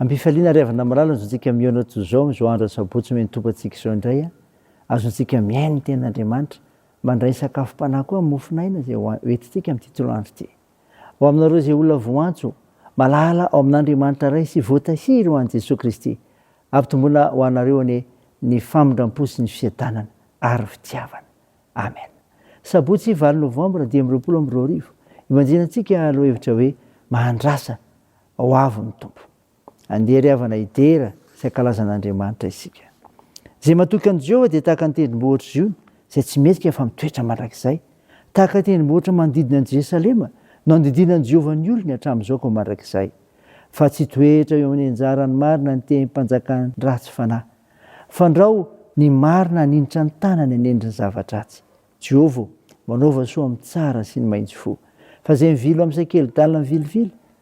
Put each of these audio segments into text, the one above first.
Ampifaliana ary avy namalala azontsika mihaona toy izao amin'izao andro asabotsy miantompantsika izao indray a. Azontsika mihaino ny tenin'Andriamanitra, mandray ny sakafom-panahy koa amin'ny mofon'aina izay hoentintsika amin'ity toloandro ity. Ho aminareo izay olona voantso, malala ao amin'Andriamanitra Ray sy voatahiry ho an'i Jesoa Kristy, ampitomboina ho anareo anie ny famindram-po sy ny fiadanana ary fitiavana. Amen. Sabotsy valo novambra dimy amby roapolo amby roa arivo, ibanjinantsika loha hevitra hoe Mahandrasa ho avy ny Tompo. Andeha ry havana hidera sy hankalaza an'Andriamanitra isika. Izay matoky an'i Jehovah dia tahaka ny tendrombohitra Ziona izay tsy mendrika fa mitoetra mandrakizay. Tahaka ny tendrombohitra manodidina an'i Jerosalema no andidian'i Jehovah ny olony hatramin'izao ka ho mandrakizay. Fa tsy hitoetra eo amin'ny anjarany marina ny tehim panjakan'ny ratsy fanahy. Fandrao ny marina haninitra ny tanany hanendry ny zava-dratsy. Jehovah ô, manaova soa amin'ny tsara sy ny maitso fo. Fa izay mivily ho amin'izay kely-dalina mivilivily,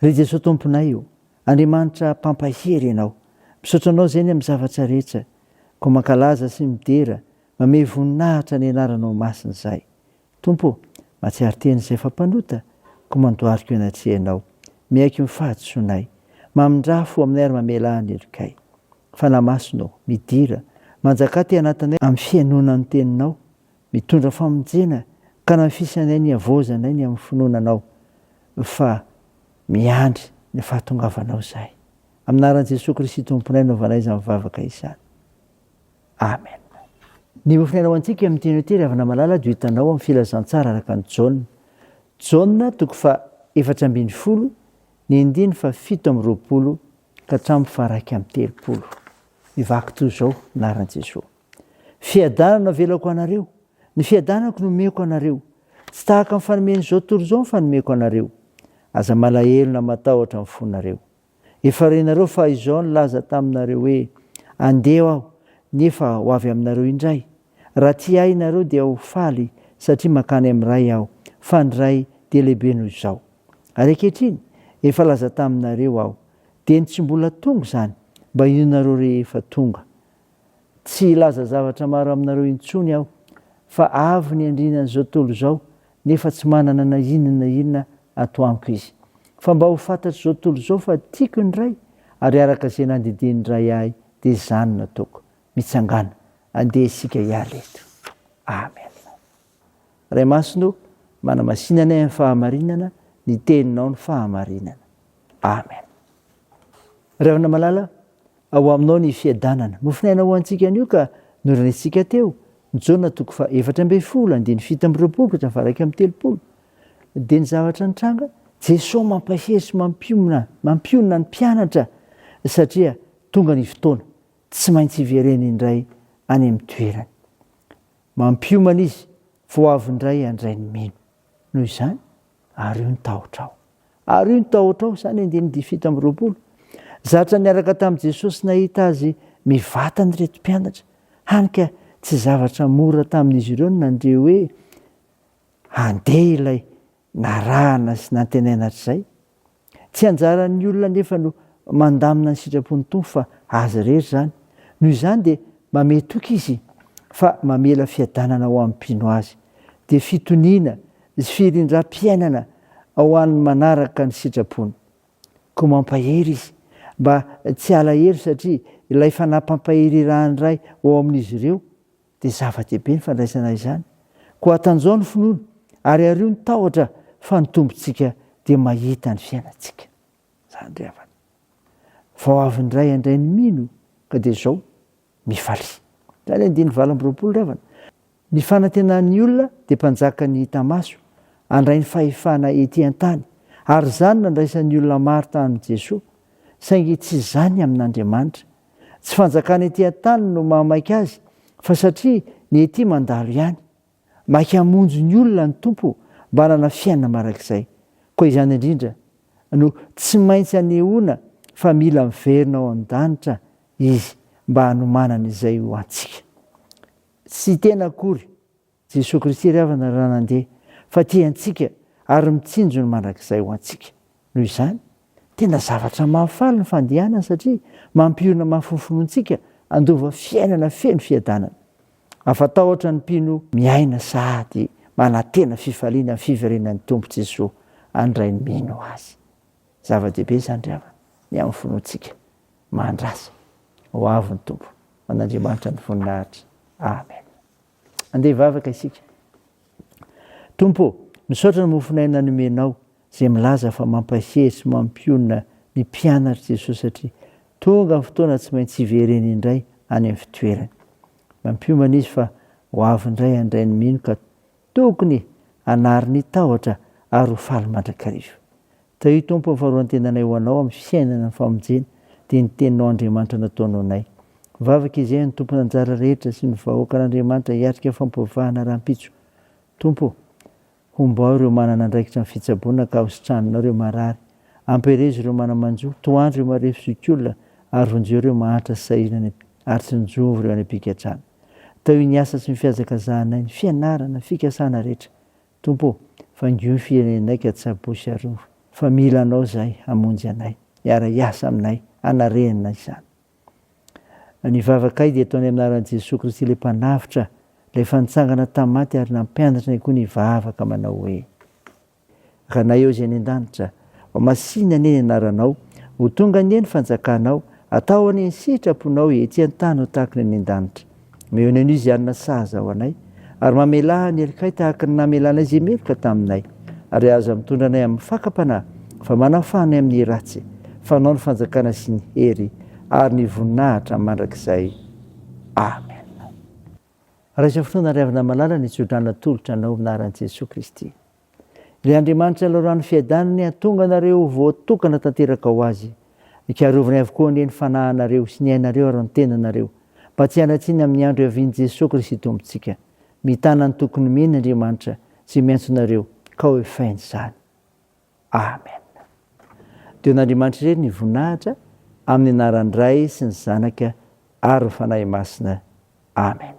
Ry Jesoa Tomponay o! Andriamanitra mpampahery Ianao. Misaotra Anao Zeny amin'ny zavatra rehetra. Koa mankalaza sy midera, mamehy voninahitra ny Anaranao Masina izahay. Tompo o! Mahatsiaro tena izay efa mpanota, koa mandohariko eny an-trehanao. Miaiky ny fahadisoanay. Mamindrafo aminay ary mamelà ny helokay. Fanahy Masina o! Midira, manjakà te anatinay amin'ny fihainoana ny Teninao, Mitondra famonjena ka nafisanay ny havaozanay ny amin'ny finoana Anao fa miandry ny fahatongavanao izahay. Amin'ny anaran'i Jesoa Kristy Tomponay no anaovanay izany vavaka izany. Amen. Ny hofilaina ho antsika amin'ny teny Ôtely Havana Malala dia ho hitanao amin'ny Filazantsara araka an'i Jaona. Jaona toko faha efatra ambin'ny folo ny andininy faha fito amby roapolo ka hatramin'ny faha iraika amby telopolo. Mivaky toy izao ny anaran'i Jesoa. Fiadanana avelako anareo, ny fiadanako no omeko anareo, tsy tahaka ny fanomen'izao tontolo izao ny fanomeko anareo. Aza malahelo na matahotra ny fonareo. Efa renareo fa Izaho nilaza taminareo hoe, Andeha Aho, nefa ho avy aminareo indray. Raha tia Ahy ianareo dia ho faly satria mankany amin'ny Ray Aho, fa ny Ray dia lehibe noho izao. Ary ankehitriny, efa laza taminareo Aho, dieny tsy mbola tonga izany, mba hinoanareo rehefa tonga. Tsy hilaza zavatra maro aminareo intsony aho, fa avy ny andriana an'izao tontolo izao, nefa tsy manana na inona na inona ato amiko izy. Fa mba ho fantatr'izao tontolo izao fa tiako ny Ray, ary araka izay nandidian'ny Ray ahy, dia izany no ataoko. Mitsangàna, andeha isika hiala eto. Amena. Ray Masina o, manamasina anay amin'ny fahamarinana, ny Teninao no fahamarinana. Amen. Ry havana malala, ao Aminao ny fiadanana. Nofonaina ho antsika anio ka norenesintsika teo, Jona toko faha efatra ambin'ny folo, andininy fito amby roapolo ka hatramin'ny faha iraika amby telopolo. Dia ny zavatra nitranga, Jesoa mampahery sy mampiomina, mampionona ny mpianatra satria tonga ny fotoana, tsy maintsy hivereny indray any amin'ny toerany. Mampiomana izy fa ho avy indray handray ny mino. Noho izany, ario ny tahotrao. Ario ny tahotrao, Samy andininy fito amby roapolo. Zatra niaraka tamin'i Jesosy nahita azy mivantana ireto mpianatra, hany ka tsy zavatra mora tamin'izy ireo ny nandre hoe handeha ilay Narahana sy nantenaina hatrizay. Tsy anjaran'ny olona anefa no mandamina ny sitrapon'ny Tompo fa Azy irery izany. Noho izany dia mamehy toky Izy fa mamela fiadanana ho an'ny mpino Azy. Dia fitoniana sy firindram-piainana ho an'ny manaraka ny sitrapony. Koa mampahery Izy mba tsy alahelo satria ilay fanampam-pahererahan'ny Ray ao amin'izy ireo Dia zava-dehibe ny fandraisana izany. Koa atanjaho ny finoana, ary ario ny tahotra fa ny Tompontsika dia mahita ny fiainantsika. Izany ry havana. Vao avy ny ray handray ny mino ka dia izao mifalia. Izany andininy valo amby roapolo ry havana. Ny fanantenan'ny olona dia mpanjaka ny hita maso, handray ny fahefana ety an-tany. Ary izany nandraisan'ny olona maro tamin'i Jesoa, saingy tsy izany amin'Andriamanitra Tsy fanjakana ety an-tany no mahamaika azy fa satria ny ety mandalo ihany. Maika hamonjy ny olona ny Tompo mba hanana fiainana marak'izay. Koa izany indrindra no tsy maintsy anehoana fa mila miverina ao an-danitra Izy mba hanomanany izay ho antsika. Tsy tena akory. Jesoa Kristy ry havana raha nandeha fa tia antsika ary mitsinjo ny mandrakizay ho antsika. Noho izany, tena zavatra mahafaly ny fandehanany satria mampionona mafy ny finoantsika handova fiainana feno fiadanana. Afa-tahotra ny mpino miaina sahady manantena fifaliana amin'ny fiverenan'ny Tompo Jesoa handray ny mino Azy. Zava-dehibe izany ry havana ny amin'ny finoantsika. Mandrasa. Ho avy ny Tompo. Ho an'Andriamanitra ny voninahitra. Amen. Andeha hivavaka isika. Tompo ô, misaotra ny mofon'aina nomenao, izay milaza fa mampahery sy mampionona ny mpianatr'i Jesoa satria tonga ny fotoana tsy maintsy hivereny indray any amin'ny fitoerany. Mampiomana izy fa ho avy indray handray ny mino ka tokony hanary ny tahotra ary ho faly mandrakariva. Tahio Tompo ny faharoan-tenanay ho Anao amin'ny fiainana ny famonjena dia ny Teninao Andriamanitra nataonao anay. Mivavaka izahay ny tompon'anjara rehetra sy ny vahoakan'Andriamanitra hiatrika fampiovahana rahampitso. Tompo ô! Hombao ireo manana andraikitra amin'ny fitsaboana ka hositranina ireo marary. Ampiherezo ireo mana-manjo, tohandro ireo marefo zokiolona ary vonjeo ireo mahantra sy sahirana ary tsinjovy ireo any am-pigadrana. Tahio ny asa sy ny fihazakazahanay, ny fianarana, ny fikasana rehetra. Tompo o! Faingio ny firenenay ka tsy apo sy arovy fa mila Anao izahay hamonjy anay. Miara hiasa aminay hanarena izany. Ny vavakay dia ataonay amin'ny anaran'i Jesoa Kristy ilay Mpanavotra, ilay efa nitsangana tamin'ny maty ary nampianatra anay koa ny hivavaka manao hoe. Ranay ao izay any an-danitra, Ho masina anie ny anaranao, ho tonga anie ny fanjakanao, atao anie ny sitraponao etsy an-tany ho tahaka ny any an-danitra. Omeo ny Onizianina sahaza ho anay, ary mamelà ny helikay tahaka ny namelanay izay meloka taminay. Ary aza mitondra anay amin'ny fakam-panahy, fa manafaha anay amin'ny ratsy, fa anao ny fanjakana sy ny hery ary ny voninahitra mandrakizay. Amen. Raiso fotoana ry havana malala ny tsodrano natolotra anao amin'ny anaran'i Jesoa Kristy. Ilay Andriamanitra Lalorano Fiadanana e hatonga anareo ho voatokana tanteraka ho Azy. Hikarovany avokoa anie ny fanahinareo sy ny ainareo ary ny tenanareo mba tsy hanatsiny amin'ny andro hiavian'i Jesoa Kristy Tompontsika. Mitana ny toky nomeny Andriamanitra izay miantso anareo ka ho efainy izany. Amen. Deo an'Andriamanitra irery ny voninahitra amin'ny anaran'ny Ray sy ny Zanaka ary ny Fanahy Masina. Amen.